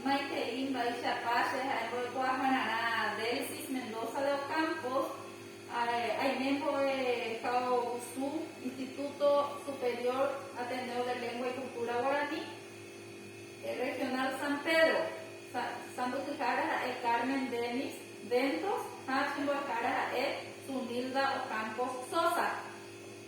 Maitei mba'eichapa che ha'e mbo'ekuaahararã Delsis Mendoza de Ocampos, aime mbo'e Kaogusu Instituto Superior Ateneo de Lengua y Cultura Guarani, Regional San Pedro, sãmbyhyhára ha'e Carmen Dennis Ventos ha chembo'ehára ha'e Zunilda Ocampos Sosa.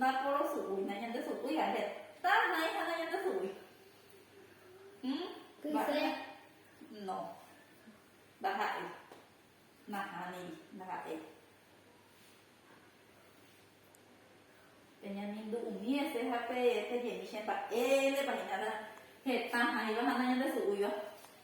Naporosu'úi, nañandesu'úi ahe. Ta nai ha nañandesu'úi. Hm? Kyse. No. Ndaha'éi. Nahániri. Ndaha'éi. Peñamindu'umi ese ha pe, pejemi che mba'e, ndépa hína heta hãiva ha nañandesu'úiva.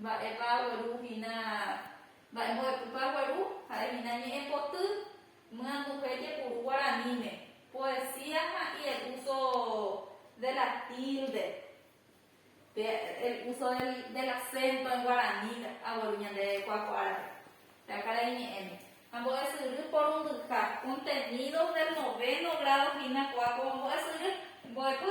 Mba'épa agueru hína mba'e mbo'epypa gueru? Ha'e hína ñe'ẽ poty, myanduje jepuru guaraníme, poesía ha y el uso de la tilde, pe el uso del acento en guaraní agueru ñande ku'ako árape, pe akarai ñe'ẽme. Ha mbo'esyry porundyha, contenidos del noveno grado hína ku'ako mbo'esyry, mbo'epy.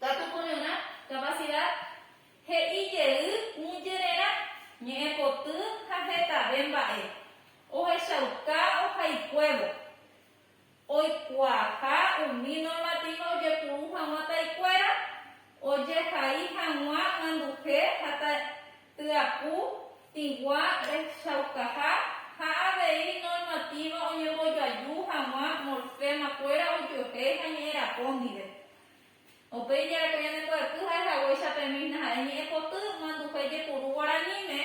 Katu kuñuna, capacidad, he'i jey ũ jererã, ñe'ẽ poty ha hetave mba'e, ohechauka ohaikuévo, oikuaaha umi normativo ojepuru hag̃ua taikuéra, ojehai hag̃ua ãnduhe ha tyapu tĩgua rehechaukaha ha avei normativa oñembojoaju hag̃ua morfema kuéra ojuehe ha ñe'ẽrapo ndive. Upéi jareko ñane mbo'epy ha'ehaguéicha pe mísna ha'e ñe'ẽpoty manduhe jepuru guaraníme,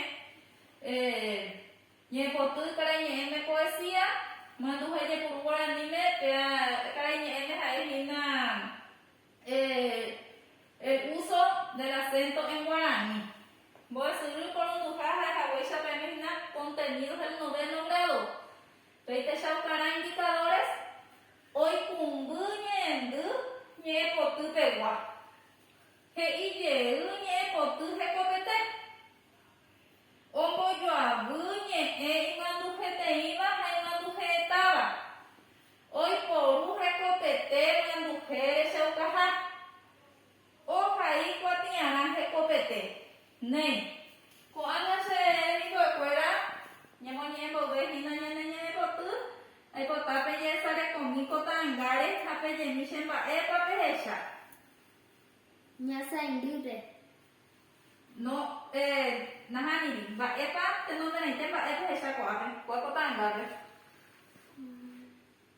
ñe'ẽpoty karaiñe'ẽme poesía, manduhe jepuru guaraníme péa karaiñe'ẽme ha'e hína el uso del acento en guaraní. Mbo'esyry porunduha ha'ehaguéicha pe mísna contenidos del noveno grado, péicha okarã indicadores, Oikũmby ñe'ẽndy ñe'ẽpoty pegua, he'i jey ñe'ẽpoty hekopete. Ombojoavy ñe'ẽ imanduheteĩva ha imanduhe'ẽtáva, oiporu hekopete manduhe rechaukaha. Ohai kuatiarã hekopete. Néi. Ko'ág̃a che rembiguekuéra ñamoñe'ẽ mboyve hína ñane ñe'ẽpoty, aipota pejesarekomi ko ta'angáre ha pejemi che mba'épa pehecha. Ñasãindýpe. No, eh, nahániri. Mba'épa tenonderãite mba'e pehecha ko'ápe. Kua ko ta'angápe.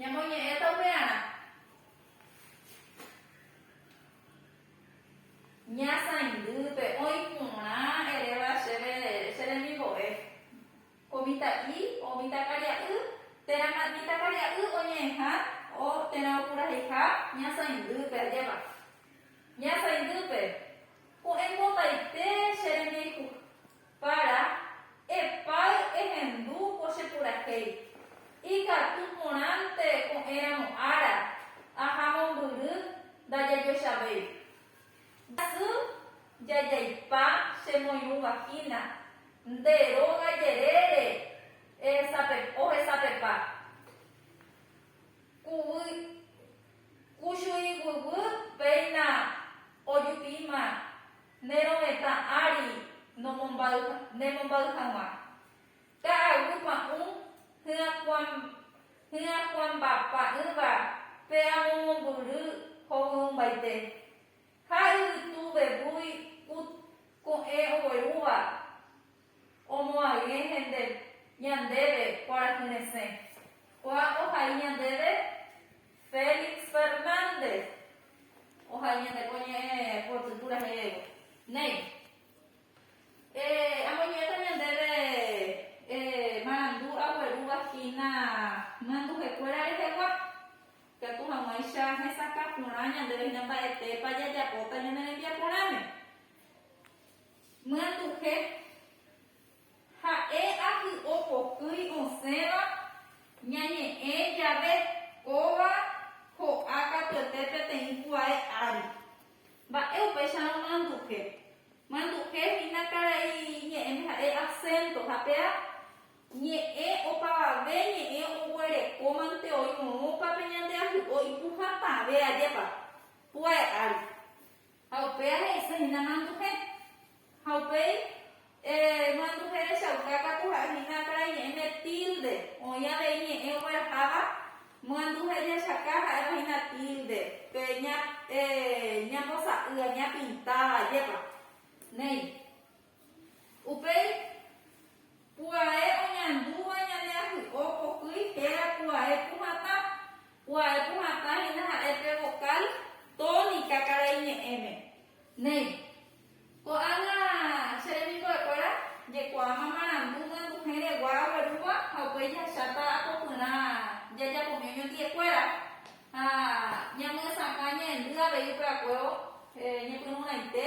Ñamoñe'ẽta upearã. Ñasãindýpe oĩ porã eréva chéve che remimbo'e. Ko mitã'i o mitãkaria'y térã mitãkaria'y oñe'ẽha o térã opuraheiha ñasãindýpe ajépa. Ñasãindýpe, ko'ẽmbotaite che rembiejuha. Para, epáy ehendu ko che purahéi. Ikatu porãnte ko'ẽramo ára, aha mombyry ndajajoechavéi. Jasy jajaipa che moirũ vagina, nde róga jerére ohesapepa. Kuchuiguýgui péina ojupi'íma Ne rovetã ári nomombáy ne mombaýy haguã. Ka'aguy pa'ũ hyakuãm hyakuãmba pa'ỹva pe amomombyry hovyũmbaite. Ha yvytu vevúi kut ko'ẽ oguerúva. Omoag̃e hende ñandéve kuarahy resẽ. Ko'ã ohai ñandéve Félix Fernández. Ohai ñande ko ñe'ẽ poty purahéivo. Néi. Eh, amoñe'ẽta ñandéve eh, marandu aguerúva hína myanduhekuéra rehegua. Ikatu hag̃uáicha hesakã porã ñandéve hína mba'etépa jajapóta ñane rembiaporãme. Myatu'he. Ha'e ahy'o pokýi osẽva ñañe'ẽ jave kóva ho'a katuete peteĩ kuae ári. Mba'e upéicharõ Myatu'he. Myatu'he hína karai ñe'ẽme ha'e asénto ha péa ñe'ẽ opavave ñe'ẽ oguerekómante oirũrũpa pe ñande ahy'o ipu hatãve ajépa kuae ári. Ha upéi ahe'ise hína manduhe. Ha upéi eh, manduhe rechauka katu ha'e hína akãra iñe'ẽ ne tilde. Oĩ avei ñe'ẽ ogueraháva manduhe jechaka ha'éva hína tilde, pe ña, eh, ñambosa'y, ñapintáva, ajépa. Néi. Upéi pu'ae oñandúva ñane ahy'o pohýi héra pu'ae puhatã. Pu'ae puhatã hína ha'e pe vokál tónika karai ñe'ẽme. Néi. Ko'ág̃a che remimbo'ekuéra jekuaáma marandu g̃uendũhẽregua aguerúva ha upéi jahecháta apopyrã jajapómi oñondi'ekuéra ha ñamyesakã ñaendy avei upeakuévo ñepyrũraite.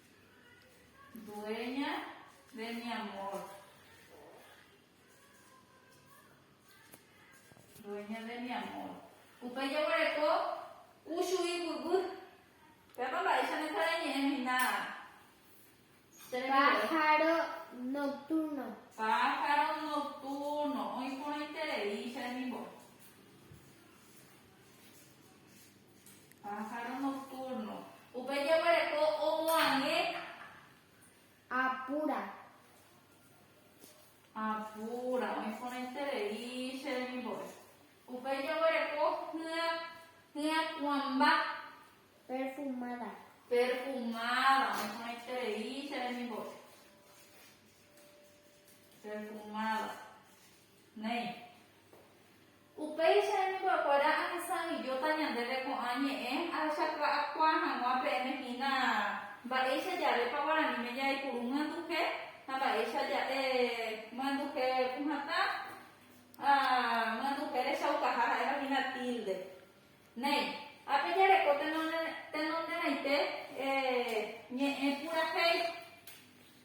Dueña de mi amor. Dueña de mi amor. Upe jeguereko u chugui gugu. Pépa mba'éicha ndesareñe'ẽ hína che rembi'u. Pájaro nocturno. Pájaro nocturno. Oĩ porãiterei che remimbo'e. Pájaro nocturno. Upe jeguereko omoag̃e. Apura. Apura. Oĩ porãiterei che remimbore. Upe jeguereko hya, hyakuãmba. Perfumada. Perfumada. Oĩ porãiterei che remimbore. Perfumada. Néi. Upéicha hemimbo'ekuéra añesãijóta ñandéve ko'ã ñe'ẽ ahechaka'akuaa hag̃ua peẽme hína mba'éicha jarépa guaraníme jaipuru myanduhe ha mba'éicha ja'e myanduhe puhãtã ha myanduhe rechaukaha ha'éva hína tilde. Néi, ápe jareko tenonderãite ñe'ẽ purahéi.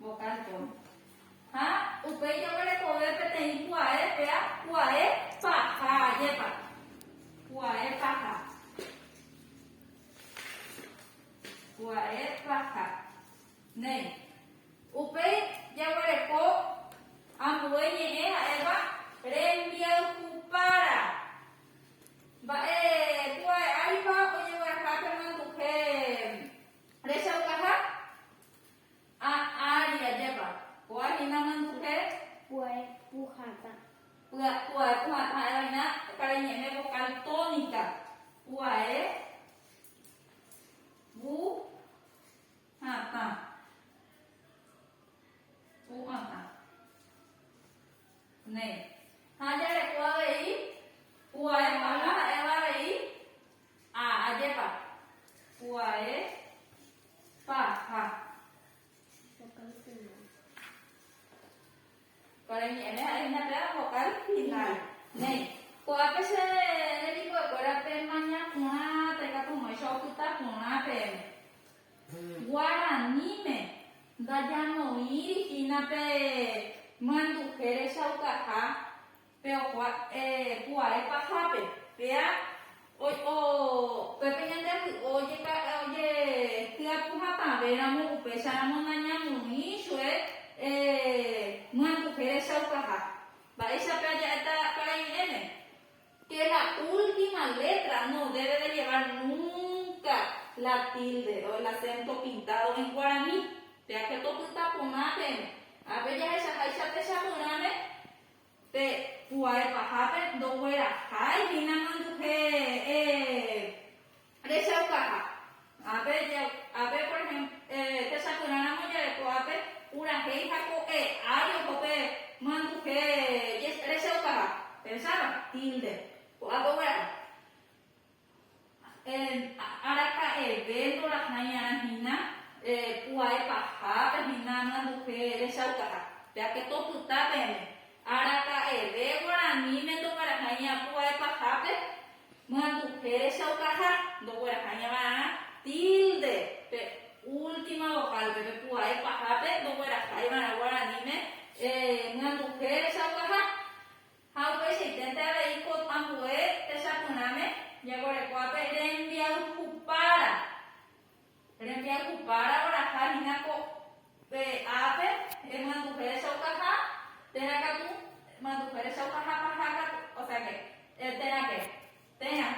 Vocalton. Ha upéi oguerekove peteĩ kuae pea kuae paha, ajépa. Kuae paha. Kuae paha. Néi. Upéi jaguereko ambue ñe'ẽ ha'éva rembiayhupára. Mba'e kuae áripa ojegueraha pemanduhe rechaukaha? A ári ajépa. Kua hína manduhe. Pu'aepu hatã. Pu'aepu hatã ha'éva hína karai ñe'ẽme vokál tónika. Pu'ae pu hatã. Pu hatã. Néi. Ha jarekua avei, pu'ae paha ha'éva avei, Ha ajépa pu'ae paha. Kuare ñe'ẽme ha'e hína péva vokál final. Néi. Ko'ápe che remimbo'ekuéra pemaña porã taikatumoicha opyta porã peẽme. Guaraníme ndajanoíri hína pe myanduhe rechaukaha Pe okua, eh, pu'ae pahápe, pea, oi, o, pe pe ñande vy'o ojeka, oje, tyapu hatãve ramo, upéicha ramo nañamoĩ chue, eh, myanduhe rechaukaha. Mba'éicha pe aja'éta parañe'ẽme? Que la última letra no debe de llevar nunca la tilde o el acento pintado en guaraní. Pea katu opyta porã peẽme. Ha pe jahechaháicha techapyrãme, Pe pu'ae pahápe ndoguerahái hína manduhe rechaukaha. Ápe, ápe por ehémplo, techapyrãramo jave ko'ápe purahéi ha ko'e ári oho pe manduhe rechaukaha, péichava, tilde, ko'ápe oguerahai. Araka'eve ndorahãi'arã hína pu'ae pahápe hína amyanduje rechaukaha. Péape topyta peẽme. Araka'eve guaraníme ndoguerahãi'arã pu'ae pahápe myanduje rechaukaha. Ndoguerahãi'arã tilde pe última vokálpe. Pe pu'ae pahápe ndogueraháivarã guaraníme myanduje rechaukaha. Ha upeichaiténte avei ko ambue techapyrãme jekorekuápe rembiayhupára. Rembiayhupára oraha hína ko pe ápe emyanduhe rechaukaha térã katu, emyanduhe rechaukaha paha katu, osea que, térã que. Térã,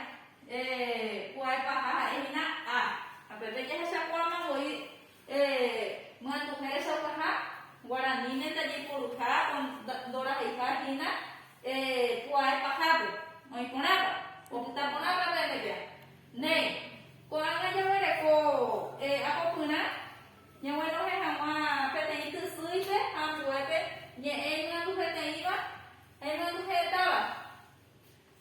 eh, pu'ae paha ha'e hína A. Ha pépe jahechakuaáma voi eh, myatuhẽ rechaukaha, guaraníme ndajaiporuha o ndoraheiha hína eh, pu'ae pahápe, oĩ porãpa, opyta porãpa peẽmepia. Néi, ko'ág̃a jaguereko eh, apopyrã ñaguenohẽ hag̃ua peteĩ tysýipe ha ambuépe ñe'ẽ imanduheteĩva ha imanduhe táva.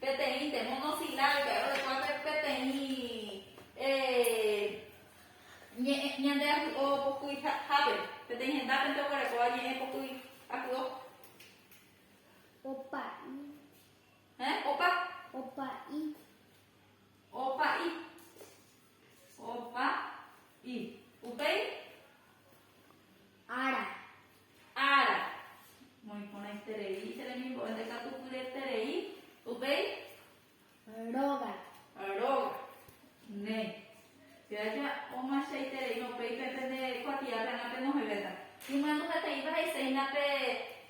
Peteĩnte, monosílábica, rorekua pe peteĩ ñe'ẽ ñande ahy'o pokýi hápe. Peteĩ hendápente oguerekóva ñe'ẽ pokýi ahy'o. Opa'i. Héẽ, opa. Opa'i. Opa'i. Opa. Y. Upéi. Ára. Ára. Moiporãiterei che remimbo'e ndekatupyreterei. Upéi. Róga. Róga. Ne. Che aja omachaitereíma upéipe pende kuatiápe ág̃a penohẽvéta. Imyanduheteĩpa he'iséina pe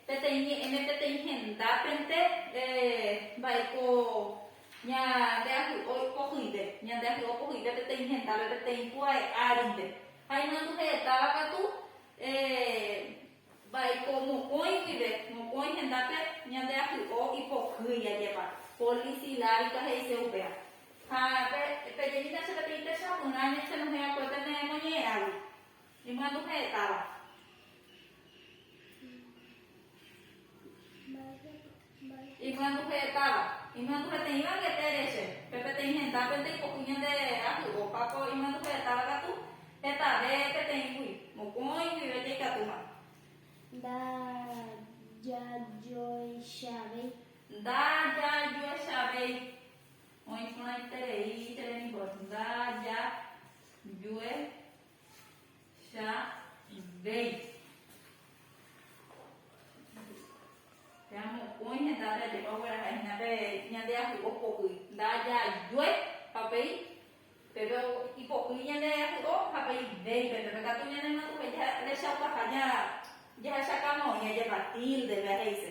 peteĩ ñe'ẽme peteĩ hendápente eh, mba'e ko Ñandeahy'o pohyive, ñandeahy'o pohyive peteĩ hendápe, peteĩ pu'ae árinte. Ha imandu he'etáva katu, mba'éiko mokõi guive, mokõi hendápe ñandeahy'o ipohýi ajépa, polisilávika he'ise upéva. Ha pejemína che peteĩ techapyrã ñañehẽ va'ekue pene moñe'ẽragui. Ñemyandu ha'e táva. Imyandu ha'e táva. Imyandu peteĩ banquete re che. Pe peteĩ henda pe nde ipo'y ñande aty. Opa ko imyandu ha'e táva katu hetave peteĩ gui. Mokõi guive jaikatúma. Nda jajoechavéi. Nda jajoechavéi. Oĩ porãiterei che rembiguápe. Nda jajoe. Cha invéi. Cha mokõi henda jajepa gueraha hína pe ñande ahy'o po'y. Ndajajue papei peve ipo'y ñande ahy'o ha pe invéi peve. Pekatu ñanemyatũve jahechaukaha jahechakãmoi ajepa tilde pe aheise.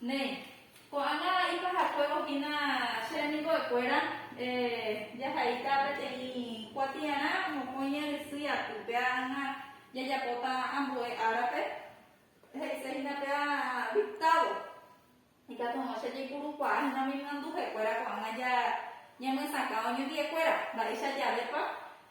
Néi, ko'ág̃a ipahakuévo hína che remimbo'ekuéra, jahe'íta peteĩ kuatiarã mokõi ñandesýi aty, péag̃a jajapóta ambue árape, he'ise hína péa dictado, ikatúrõ che jaipurukuaa hína umi myanduhekuéra ko'ág̃a ñamyesakã oñondi'ekuéra, mba'éicha javépa.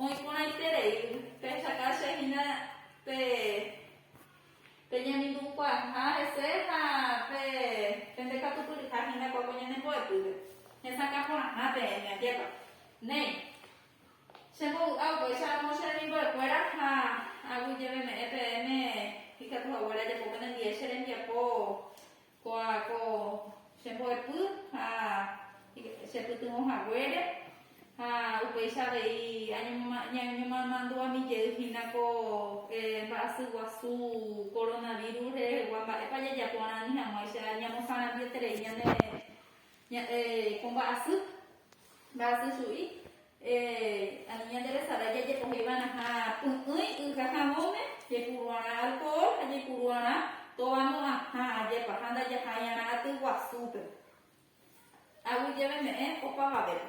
Oĩporãiterei pechaka che hína pe pe ñemindu'ukuaaha hese ha pe pende katupyryha hína-kua ko ñane mbo'epýpe. Hesakã porãha peẽme, ajépa. Néi. Che mbovy'a upéicha amo che remimbo'ekuéra ha aguyjeveme'ẽ peẽme ikatu haguére ajapo penendie che rembiapo Kóa ko che mbo'epy ha che pytyvõ haguére, ha upéicha avei ñañomandu'ami jey hína ko mba'asy guasu koronavírus rehegua, mba'épa jajapo Guarani hag̃uáicha ñamosarambiete rei ñane ko mba'asy, mba'asy chu'i, Ani ñande resarái jajepohéi va'erãha py'ỹi y ha havõme, jepuru'arã alkohol ha jaipuru'arã tovamo'ãha ajépa ha ndajahai'arã aty guasúpe. Aguyjeveme'ẽ opavavépe.